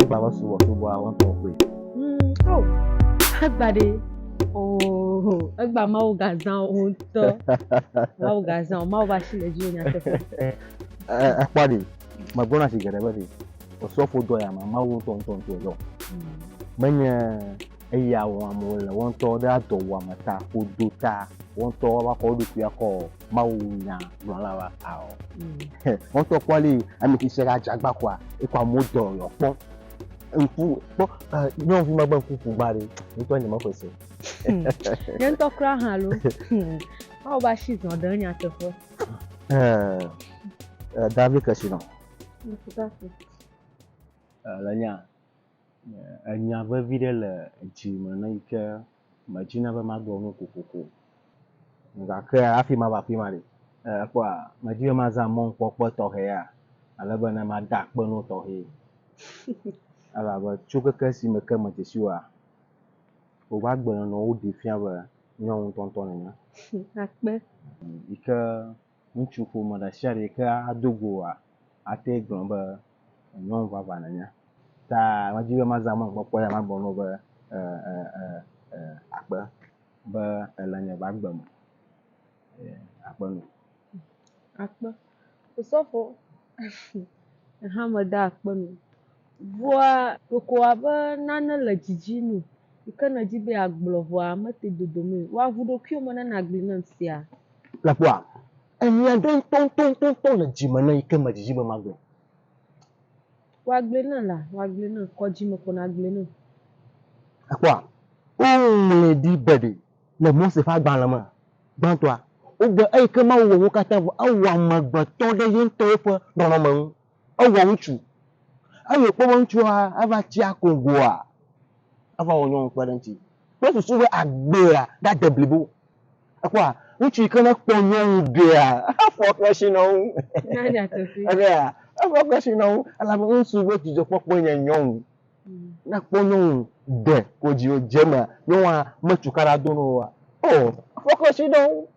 Egba va subɔ subɔ awɔ tɔ koe. Egba ɖe ooo egba mawu gazã o ŋutɔ mawu gazã o mawu va si le dzi o nyateƒe. Ekpɔ ɖi megblɔna si geɖe be ɖi osɔfo dɔ ya ma mawu ŋutɔ ŋutɔ ŋutɔ dɔ menye. Eya wɔm wole, woawo ŋutɔ ɖe adɔwuame ta ƒo do ta, woawo ŋutɔ woava kɔ wo ɖokui akɔ mawunya gblɔla wa ao. Woawo ŋutɔ kpɔ ale yi ame tsitsi ɖe adze agba kɔa, ekɔ amewo dɔ yewoakpɔ. Ŋku kpɔ e nyɔnuvi ma gbe ŋku ƒu gba ɖe, nye ŋutɔ nye meƒoe se o. Nye ŋutɔ kura hã alo mawu be asi zɔ ɖe nyateƒe. Ee, David Keshino. Ŋku ta fu. Ee, le nya. Enya vevi ɖe le dzi me ne yi ke medzi na be magblɔ nu kokoko o. Gake hafi mava afi ma ɖe, èkpɔa, medi be mazã mɔkpɔkpɔ tɔxɛ ya ale be ne mada akpe na wo tɔxɛ. Elabe tso keke si me ke medze si woa, woƒe agbenɔnɔ woɖee fia be nyɔnu ŋutɔŋutɔ nènye. Akpe. Yi ke Ŋutsu ƒome ɖesiaɖe ke ado go oa, ate ŋu agblɔ be nyɔnu vavã nènye. Ta medi be mazã mɔ gbɔkpɔ ya magblɔ na wò be, E, e, e, e, akpe be èle nye va agbe me. E, akpe nɔ. Akpe. Osɔfo, Ehã meda akpe nu. Ŋua ɖeko abe nane le dzidzim me yi ke nèdi be yeagblɔ vɔa mete dodom o. Wɔ avu ɖokuiwò me ne nàgblɔe nam fia. Nakpɔa? Enya aɖe ŋutɔŋutɔŋutɔ le dzi me nam yi ke medzidzi be magblɔ. Wɔ agblɔe nam la, wɔ agblɔe nam. Kɔ dzi me ko nàgblɔe nam. Nakpɔa? Woŋlɔe ɖi be ɖe Le Mose ƒe agbalẽ me gbãtɔa, wogblɔ eyi ke Mawu wɔ wo katã vɔ. Ewɔ amegbetɔ ɖe ye ŋutɔ yeƒe nɔnɔme ŋu. Ewɔ ŋutsu. Eyi wòkpɔ be ŋutsua eva tsi akogoa, eva wɔ nyɔnu kpe ɖe eŋuti. Kple susu be agbea nade blibo. Èkpɔa? Ŋutsu yi ke nekpɔ nyɔnu ɖea, efɔ keshi nɔ eŋu. Efɔ keshi nɔ eŋu elabe ŋutsu be dzidzɔkpɔkpɔe nye nyɔnu. Ne kpɔ nyɔnu de kodzi o dze mea nyɔnua me cukaɖa do no wa o fɔkɔsi ɖe wo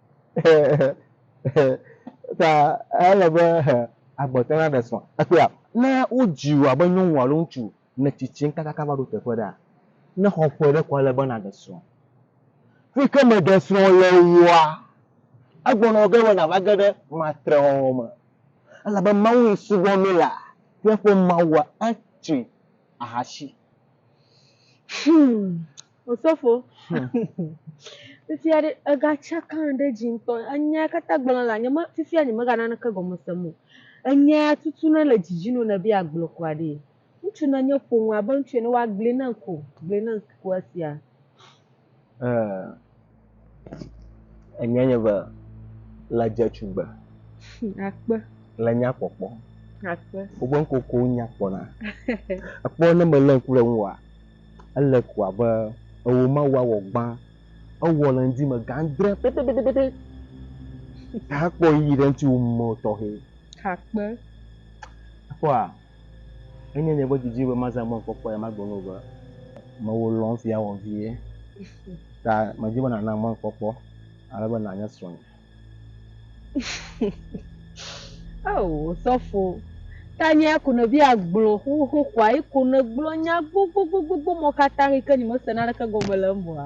ta ele be agbɔte na ɖe sɔ ekpea ne wodzi wa be nyɔnu alo ŋutsu ne tsitsi kakaka va ɖo teƒe ɖa ne xɔ ƒe ɖe kɔ le be na ɖe sɔ fi ke me ɖe sɔ le woa egbɔnɔ ge be na va ge ɖe matre wɔwɔ me Elabe Mawu yi subɔ mí la, míaƒe Mawua atsi ahasi. Hum! Osofo, fifia ɖe ega tsaka ɖe edzi ŋutɔ. Enyea katã gblɔna la, nye me, fifia nye me ga naneke gɔme sem o. Enyea tutu na le dzi dzi nɔ ne be agblɔ kɔa ɖee. Ŋutsu na nye ƒome abe ŋutsu ene wa gli nam ko gli nam ko esia. Ee enyɔa nye be le dze tugbe. Akpe. Le nya kpɔkpɔ. Akpe. Wobe ŋkɔ ko nya kpɔ na. Ekpɔ ne me le ŋku ɖe ŋu wa ele ko abe ewo ma wa wɔ gbã ewɔ le ŋdi me gã dre pɛpɛpɛpɛpɛ. Hakpɔ yi ɖe ŋuti wo mɔ tɔxɛ. Akpe. Kpɔa. Enye nye ƒe didi be mazã gbɔnye kpɔkpɔe ema gbe nu be, Mewò lɔ̃m fia wò vie, ta medi be nànam gbɔnye kpɔkpɔ ale be nànye srɔ̃nye. Ao, Osɔfo, tanye ya ko nèbi agblɔ xoxoxoa? Yi ko nègblɔ nya gbogbogbogbo mɔ katã yi ke nyemese naneke gɔme le eŋua?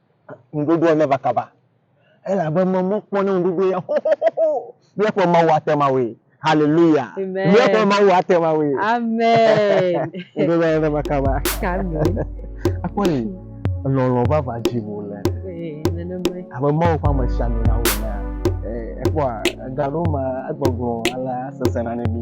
Ŋuɖoɖoa neva kaba, elabe mɔmɔ kpɔ ne ŋuɖoɖo ya xoxoxoxo. Míaƒe Mawu ate ŋu awɔe. Haleluya! Míaƒe Mawu ate ŋu awɔe. Ŋuɖoɖoa neva kaba. Akpɔ ɖi lɔlɔ̃ vavã dzim wòle. Abe Mawu ƒe amesiamina la wɔ enea, ekpɔa, ega aɖewo me egbɔgblɔ alea sesẽna na mí.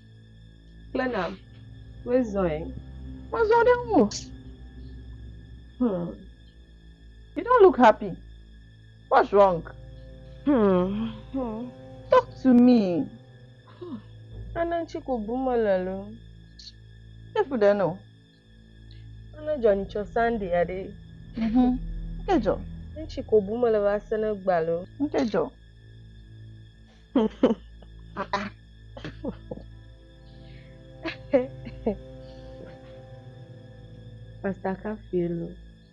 kple nam wezɔe. Mezɔ ɖe ŋu o. Hmm. You don't look happy. What's wrong? Hmm. hmm. Talk to me. Hmm. Ana ŋutsi ko bum mele lo. Efu ɖe no. Ame dzɔ ni tsɔ Sunday aɖe. Mhm. Ke dzɔ. Ŋutsi ko bu mele va se ne gba lo. Ŋutsi dzɔ. Pastor Kafie lo.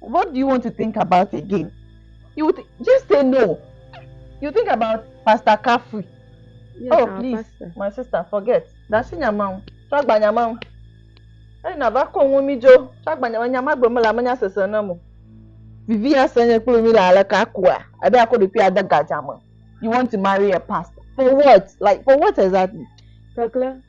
What do you want to think about again? You th just say no. You think about Pastor Kafui. Yes, oh, please, pastor. my sister, forget. That's in your mouth. Talk by your mouth. Hey, na va kɔ ŋun mi dzo. Talk by your mouth. Nyama gbe me la me nya sese na mo. Vivi ya se nye kple mi la ale ka kua. Abe akɔ ɖe kpia de gadza me. You want to marry a pastor? For what? Like for what exactly? Kakla.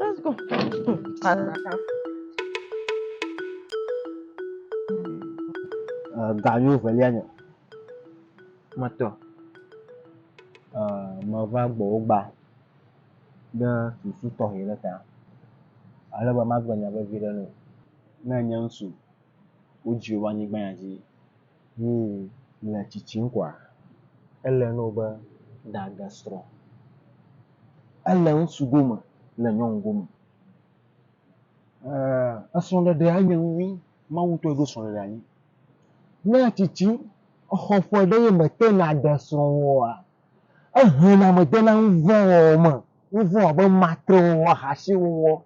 Let's go. Ganyo velia nyɔ. Matɔ. Meva gbɔwo gba ɖe susu tɔxɛ ɖe ta. Ale be magblɔ nya vevi ɖe nɔ. Ne enye ŋutsu, wodzio va anyigba ya dzi. Yi le tsitsim koa, ele nɔ be da ge srɔ. Ele ŋsu gome le nyɔnu gome. E esrɔ ɖeɖe a nye nunyui, Mawu tɔe ɖo srɔ ɖeɖe anyi. Ne etsitsi exɔ ƒe ɖe ye me te na de srɔ wɔa, ehe na me de na nuvɔ̃ wɔwɔ me. Nuvɔ̃ abe matre wɔwɔ, ahasi wɔwɔ.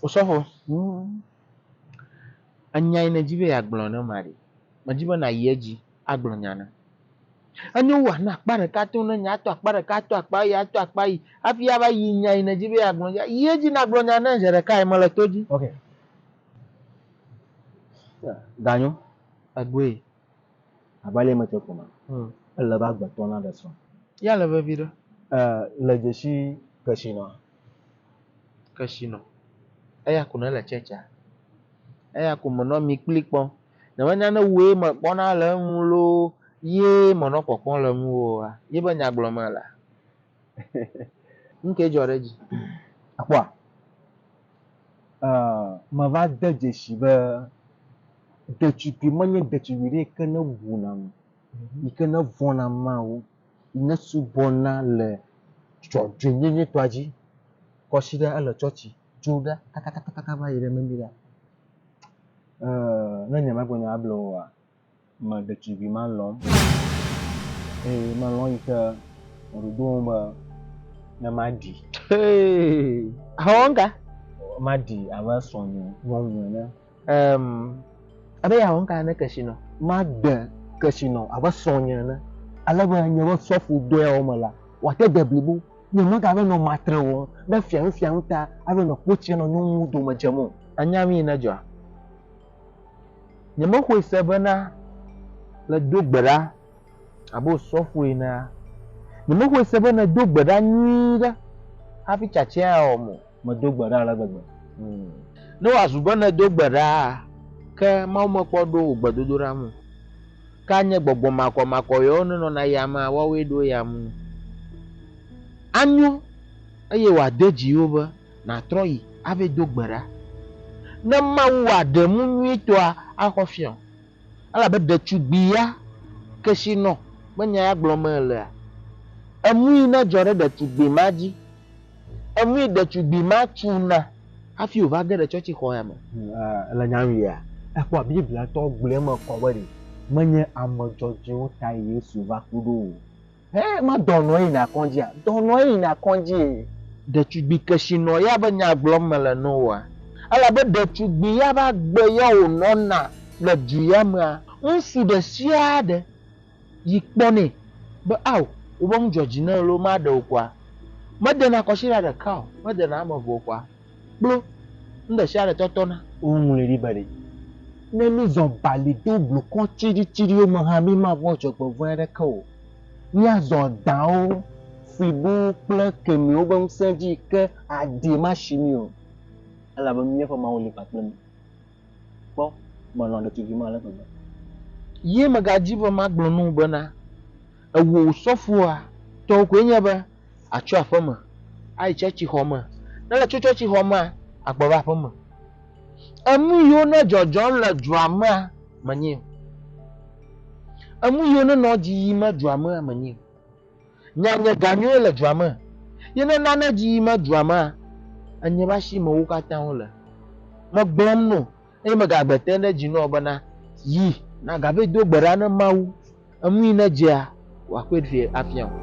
Osɔfo, Huum, enya yi nèdi be yeagblɔ ne ma ɖe? Medi be nàyi edzi agblɔ nya nam. Enyo wu ànɔ akpa ɖeka tom ne nya, ato akpa ɖeka, ato akpa eyi, ato akpa eyi hafi ava yi nya yi nèdi be yeagblɔ dzia, yi edzi nàgblɔ nya nam zi ɖekae, mele to dzi. Ok. Ganyo, egbɔe. Abe ale metsɔe ko ma, ele be agbetɔ naɖe srɔ̃. Yea le veviɖe. Le dzesi kesinɔa? Kesinɔ. Eya ko ne le tsɛtsia. Eya ko me nɔ mi kpli kpɔ. Ne menye ne wue me kpɔna le eŋu loo ye me nɔ kpɔkpɔ le ŋu oa, ye be nya gblɔ mele. Nu ke dzɔ ɖe edzi. Akpɔa? Me va de dzesi be ɖetugbi menye ɖetugbi ɖe yi ke ne buna nu, yi ke ne vɔ̃na Mawu Nèsubɔna le dzɔdzɔenyenyetɔa dzi. Kɔsiɖa ele tsɔtsi tso ɖa kakakakaka va yi ɖe mimi ɖa. Eeee ne nye magblɔ nya able wòa, me ɖetugbi ma lɔ̃m eye melɔ̃ yi ke wòɖo ɖo ŋu be ne maɖi. Hee, ahɔnga. Maɖi abe srɔ̃nye nyɔnu ene. Emm ebe yeawɔ nuka ne kesinɔ? Made kesinɔ abe srɔ̃nye ene. Ale be nye be sɔfo dɔyawo me la, wòate de blibo. Nye megava nɔ matre o be fianufianu ta alo nɔ kpo tsrem nɔ nyɔnuwo dome dzem o. Ènya nu yi nedzɔa? Nyemexɔe se bena le do gbe ɖa abe wò sɔfo enea? Nyemexɔe se be nèdo gbe ɖa nyuie ɖe hafi tsatsae awɔm o. Medo gbe ɖa ale gbegbe. Hmm. Ne wòazu be nèdo gbe ɖaa, ke Mawu mekpɔ ɖo wò gbedodoɖa ŋu o. Ke anye gbɔgbɔ makɔmakɔ yewo nenɔna yamea woawoe ɖo eya ŋu nu. Anyo eye wòade dzi wo be nàtrɔ yi ave do gbe ɖa ne Mawu wòaɖe nu nyuitɔa axɔ fiɔ. Elabe ɖetugbui ya kesinɔ be nya ya gblɔm melea, enui nedzɔ ɖe ɖetugbui ma dzi. Enui ɖetugbui ma tuna hafi wòva ge ɖe tsɔtsixɔ ya me. Le nyanuia, ekpɔa Biblia tɔ gblɔe me kɔ be ɖe menye ame dzɔdzɔewo tae Yesu va ku ɖo o, Hɛ ma dɔnɔ ye yina kɔndzia? Dɔnɔ ye yina kɔndzi. Ɖetugbi kesinɔ ya be nya gblɔm mele no woa? Elabe ɖetugbi ya be agbe ya wo nɔna le du ya mea? Ŋsu ɖe sia ɖe yi kpɔnɛ be ao wobe ŋu dzɔ dzi ne elo ma ɖe o kɔa? Medena kɔsiɖa ɖeka o, medena ame eve o kɔa? kplo nuɖesiaɖe tɔtɔ na. Woŋlɔe ɖi be ɖe, Ne mízɔ bali to blukɔ tsiɖitsiɖiwo me hã mímavɔ̃ dzɔgbevɔ̃e aɖeke o. Míazɔ dãwo, flibowo kple kemiwo ƒe ŋusẽ dzi yi ke adee masi mí o, elabe míaƒe Mawu li kpakple mí. Kpɔ, melɔ̃ ɖetugbi ma ale gbegbe. Ye megadi be magblɔ na wò bena, Ewò wò sɔfoa tɔwo koe nye be àtso aƒeme ayi tsɔtsixɔ me, ne ètso tsɔtsixɔ mea, àgbɔ va aƒeme. Enu yiwo nɔ dzɔdzɔm le dua mea menyae o. Enu yiwo nenɔ edzi yim le dua mea menyae o. Nya nye ga nyuie le dua me, ye ne nane dzi yime dua mea, enye be asi me wo katã wo le. Megblɔm no, eye megagbe te ɖe dzi nɔ bena, Yi, nagave do gbe ɖa ne Mawu, enui ne dzea, wòakpɔe ɖi afia wò.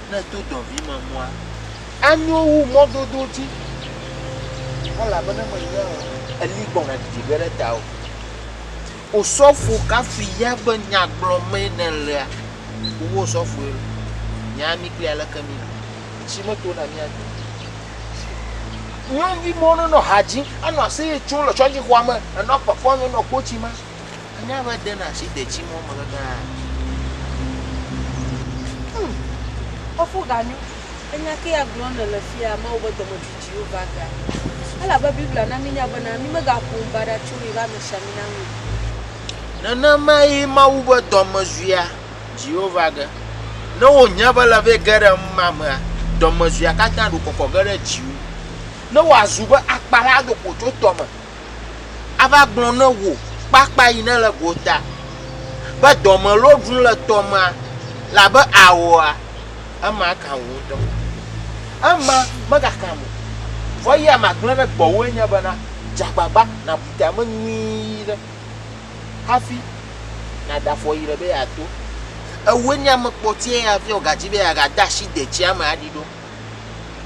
Ne èdo dɔvimemɔa, anyo wu mɔdodo dzi kpɔ elabena mènya o. Eli gbɔna didi ge ɖe tawò. Osɔfo kafui ya be, Nya gblɔmee nèlea, wò osɔfoe loo. Nya mí kpli aleke míele. Tsi meto na mía dome o. Nyɔnuvi mɔwo nenɔ ha dzim, anɔ aseye tsom le tsɔtsixɔa me, enɔ kpekpɔm, enɔ kpo tsim. Anya be dena asi detsi mɔ me kekeaa. Hum. Fofo Ganu, enya kee agblɔm nèle fiaa, Mawu be dɔmedzoedzoewo va gea. Elabe Biblia na mínya bena, mí megaƒo nu baɖa tso yi ƒe amesiamina ŋu o. Nenemae Mawu be dɔmedzoea dziwo va ge. Ne wòhiã be ele vɛ ge ɖe numa mea, dɔmedzoea katã ɖo kɔkɔ ge ɖe dziwò. Ne wòazu be akpa la do ƒo tso tɔ me ava gblɔ ne wò kpakpa yi nele gota be dɔme lo ɖum le tɔ ma labe aoa, ema kan wò ŋutɔ. Ema megakam o. Vɔ eya magblẽ ɖe gbɔwòe nye bena, dze agbagba nàbu tame nyuie ɖe hafi nàɖe afɔ yi ɖe be yeato. Ewòe nye ame kpɔtɔe ya via wògadzi be yeagade asi detsia me aɖi ɖo.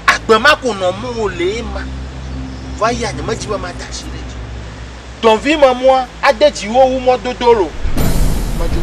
Agbe ma ko nɔ mɔ o le ema. Vɔ eya nye me dzi be ma da shi ɖe dzi. Dɔnvi me mɔa a de dzi wo wu mɔ dodo lo. Me djo.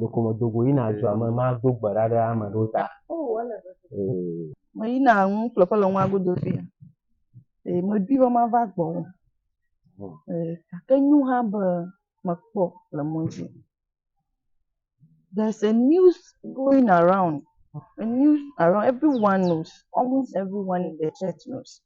ɖeko medo go yina dua me mado gbe ɖa ɖe ame ɖewo ta. Meyina nu ƒleƒe le nua godo fia. Ee, medui be mava gbɔ. Ee, gake nyo hã be mekpɔ le mɔ dzi. There's a news going around. A news around, everyone knows, almost everyone in the church knows.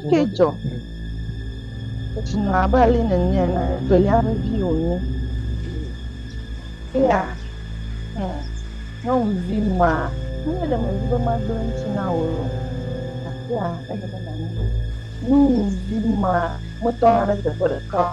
Ŋkee dzɔ. Edzi nɔ abe ale nènye ene, evelia ƒe vi wònye. Eya, hmm, nyɔnuvi ma, menye ɖe medi be magblẽ ŋuti na wò o, gakea ele be nànyae. Nyɔnuvi ma metɔna ɖe teƒe ɖeka o.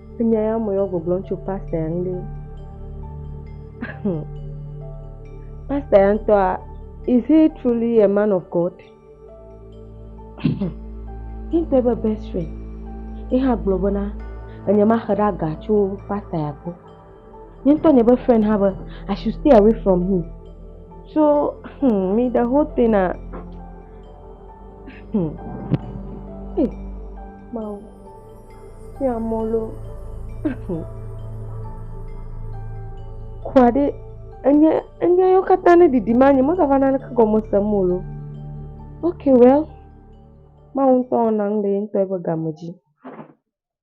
Enya ya me yɔ gbɔgblɔm tso pasta ya ŋu ɖe. Pasta ya ŋutɔa, is he truly a man of God? Ŋutɔ ebe best friend. Ye hã gblɔ bena, enye maxe ɖe aga tso pasta ya gbɔ. Nye ŋutɔ nye be friend hã be I should stay away from him. So hmm, me the whole thing na hmm. Hey, Mawu, tí a mɔ lo. Hmm. Kua ɖe enye enye yo katã ne ɖiɖi ma nye mɔzava na ne kegɔme se mo lo. Okay, well, Mawu ŋutɔ wɔna nu le ye ŋutɔ eƒe game dzi.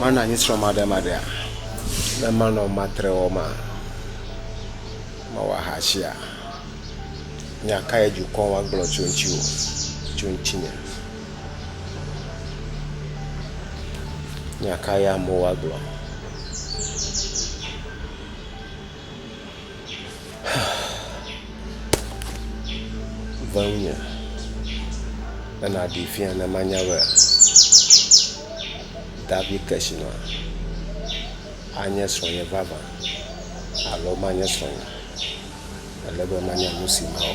mana anyi srɔmaɖemaɖea, ne manɔ matre wɔm maa, mawɔ ahatsia, nya kae dukɔ ma gblɔ tso ŋutiwò, tso ŋutinye? Nya kae amewo agblɔ? Ve ŋnye ena ɖi fia ne manya be Davi Keshina anye srɔ̃nye vavã alo manye srɔ̃nye o. Ele be manya nu si mawɔ.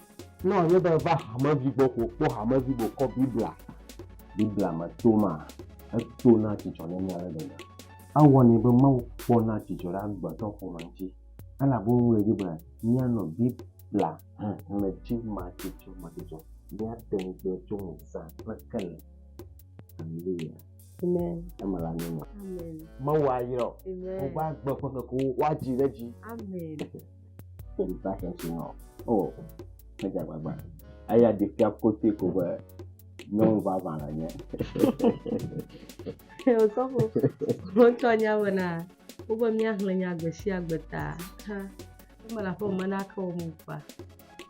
Ne wòanye be èva hamevi gbɔ ko kpɔ hamevi be wòkɔ Biblia, Biblia me toma, etona dzidzɔ ne mí ale gbegbe. Ewɔnɛ be Mawu kpɔna dzidzɔ ɖe agbetɔ ƒome ŋuti, elabe woŋlɔe ɖi be, Míanɔ Biblia xexlẽ dzi madzudzɔmadzudzɔ, míate ŋu gblɔe tso ŋu zã kple kele. Haleluya! Eme le anyi na wò. Mawu ayra wò. Wòva agbe ƒe ŋkekewo woadzi ɖe edzi. Ke ɖeka sia si hã o, oh, edze agbagba. Eya ɖi fia kote ko be nyɔnu vavã le nye. Ke osɔfo, wotɔ nya bena, wobe míaxlẽ nya gbe sia gbe ta. Ha, eme le aƒe me na ke wɔ mo kpa.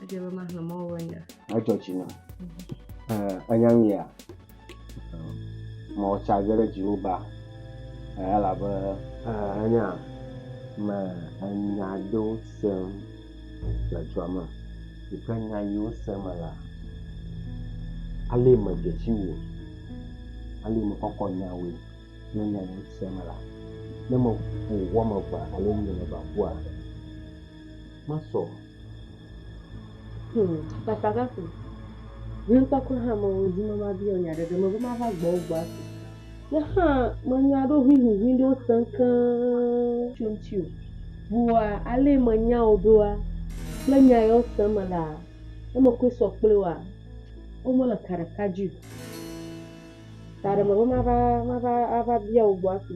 Edze be maxlẽ mɔ be nya. Edzɔ tsi na. Enya nu ya. Mɔ tsa ge ɖe dziwò ba, elabe. Ènya me enya aɖewo sem le dua me. Yi ke nya yi wo sem me la, alee me dze si wò, alee me kɔkɔ nya woe. Ne nya yi wo sem me la, ne me ƒo wo ame evea alo enyi ame evea ƒua, masɔ. Hum, Pasakaku, ʋlinkpekpe hã mewo dzi me mabiɔ nya ɖeɖe me be mava gbɔwò gbɔ ase. Ke hã menya ɖo ʋiʋiʋi ɖewo sem keŋ tso ŋutiwò. Vɔa alee menya wò ɖoa, kple nya yawo sem melea, ne mekɔe sɔ kple wòa, womele ka ɖeka dzi o. Taɖe mebe mava, mava ava bia wò gbɔ ase.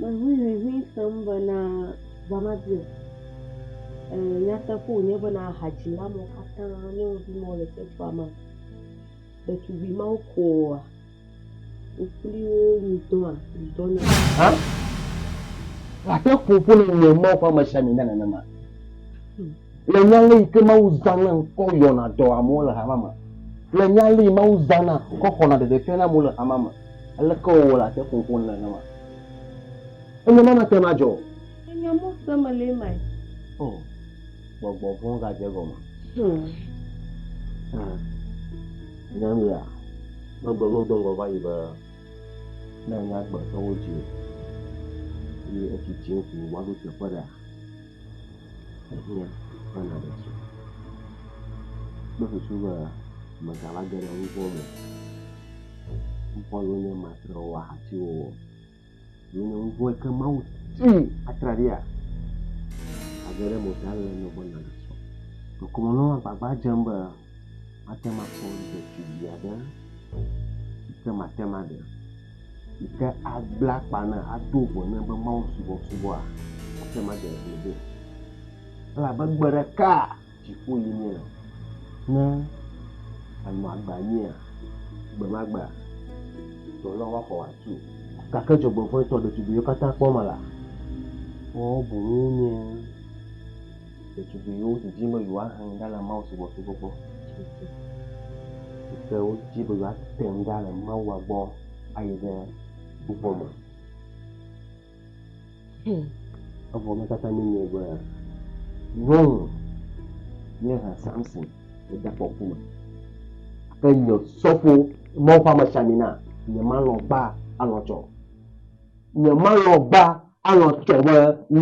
Meʋui ʋiʋi sem bena ʋua mabi o. Ee, nyateƒe wònye bena hadzila mawo katã nyɔnuvi mawo le teƒea mea, ɖetugbui mawo koa? Wo kpli wo nu dɔa? Nu dɔ na? Hã? Wòate ƒo ƒu le nye mɔ̃ ƒe amesiamina nenema? Le nya ale yi ke Mawu zãna kɔ yɔna dɔ amewo le hamea me, le nya ale yi Mawu zãna kɔ xɔna ɖeɖefia na amewo le hamea me, aleke wòwɔna ate ŋu ƒo nu nenema? Enya ma nate ŋu adzɔ o. Ènya mɔ si mele emae? O, gbɔgbɔ vɔ̃ gadze egɔme. Ẽ, ènya nuya? Megblɔ na wò do ŋgɔ va yi be, Ne ènya agbetɔwo dzi o, eye ètsi tsiŋ ko woaɖo teƒe ɖea? ehiã bena ɖetu. Kple susu be megava ge ɖe nuxlɔ̃ me o. Ŋkɔ nu nye ma trɔ wɔ ahati wɔwɔ. Ye nye ŋkɔ ke Mawu ti atraɖia age ɖe mota le nɔ be na ɖetu. Ŋkɔ me nɔ agbagba dzem be mate makpɔ ɖetu vi aɖe yi ke mate maɖe. yi ke agble akpa na ado ŋu ne be mawusubɔsubɔa ate ŋu ade ŋugble vɛ. Elabe gbe ɖeka dziƒo yi míele. Ne anɔ agbe anyia, gbe ma gbea, dɔ lɔ woaxɔ wòatu o. Gake dzɔgbevɔ̃etɔ ɖetugbiwo katã kpɔ mela, woawo boŋ wonye. ɖetugbui yiwo didim be yewoahe nu ɖa le mawusubɔsubɔ gbɔ tututu yi ke wodi be yewoate ŋu ɖa le Mawua gbɔ ayi ɖe subɔ me. Hmm. Evɔ eme katã míenyae be nyɔnu ye he Samson le ɖekɔku me. Ke nye sɔfo, Mawu ƒe amesiamina, nyemalɔ̃ gbaa alɔ̃ tsɔ. Nyemalɔ̃ gbaa Alɔ̃ tɔ be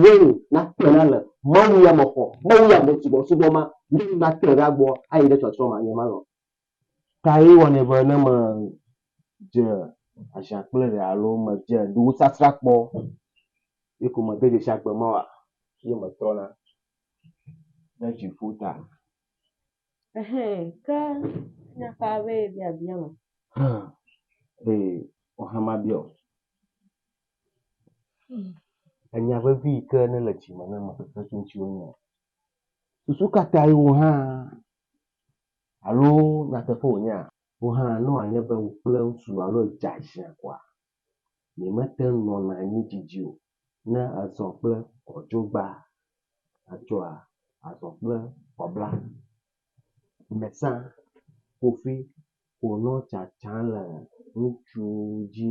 Wayne nakpe ɖa le mawuyamexɔ, mawuyamesubɔsubɔ ma me wu natrɔe ɖa gbɔ ayi ɖe tsɔtsrɔ̃ ma nye malɔ̃. Kae wɔnɛ be ne medze aʒia kple ɖe alo medze nuwusasra kpɔ ye ko mede dzesi agbe ma oa, ye metrɔna ɖe dziƒo ta? Ehɛ, ke nya ka be yebiabia ma? Hã, ee, wò hã mabia wò. Enya vevi yi ke nele dzi me ne mexɔ xexi ŋutiwo nye susu ka tae wò hã alo nyateƒe wònyea? Wò hã ne wòanye be wò kple ŋutsu alo edze ashi akoa, miemete ŋu nɔna anyi didi o ne èzɔ kple kɔdzogba atsɔa azɔ kple kɔbla. Gbesã kofi wònɔ tsatsam le ŋutsu dzi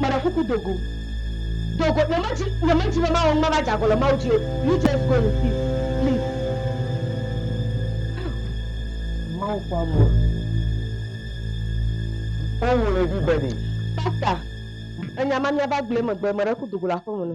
Meɖe kuku do go. Do go. Nyemedi, nyemedi be mawɔ nu mava dze agɔ le Mawu dzi o. You just go in peace. Please. Mawu ƒe amea. Woŋlɔe ɖi be ɖe. Pastor, enya ma mía va gblɔe megbe, meɖe kuku do go le aƒeme ne.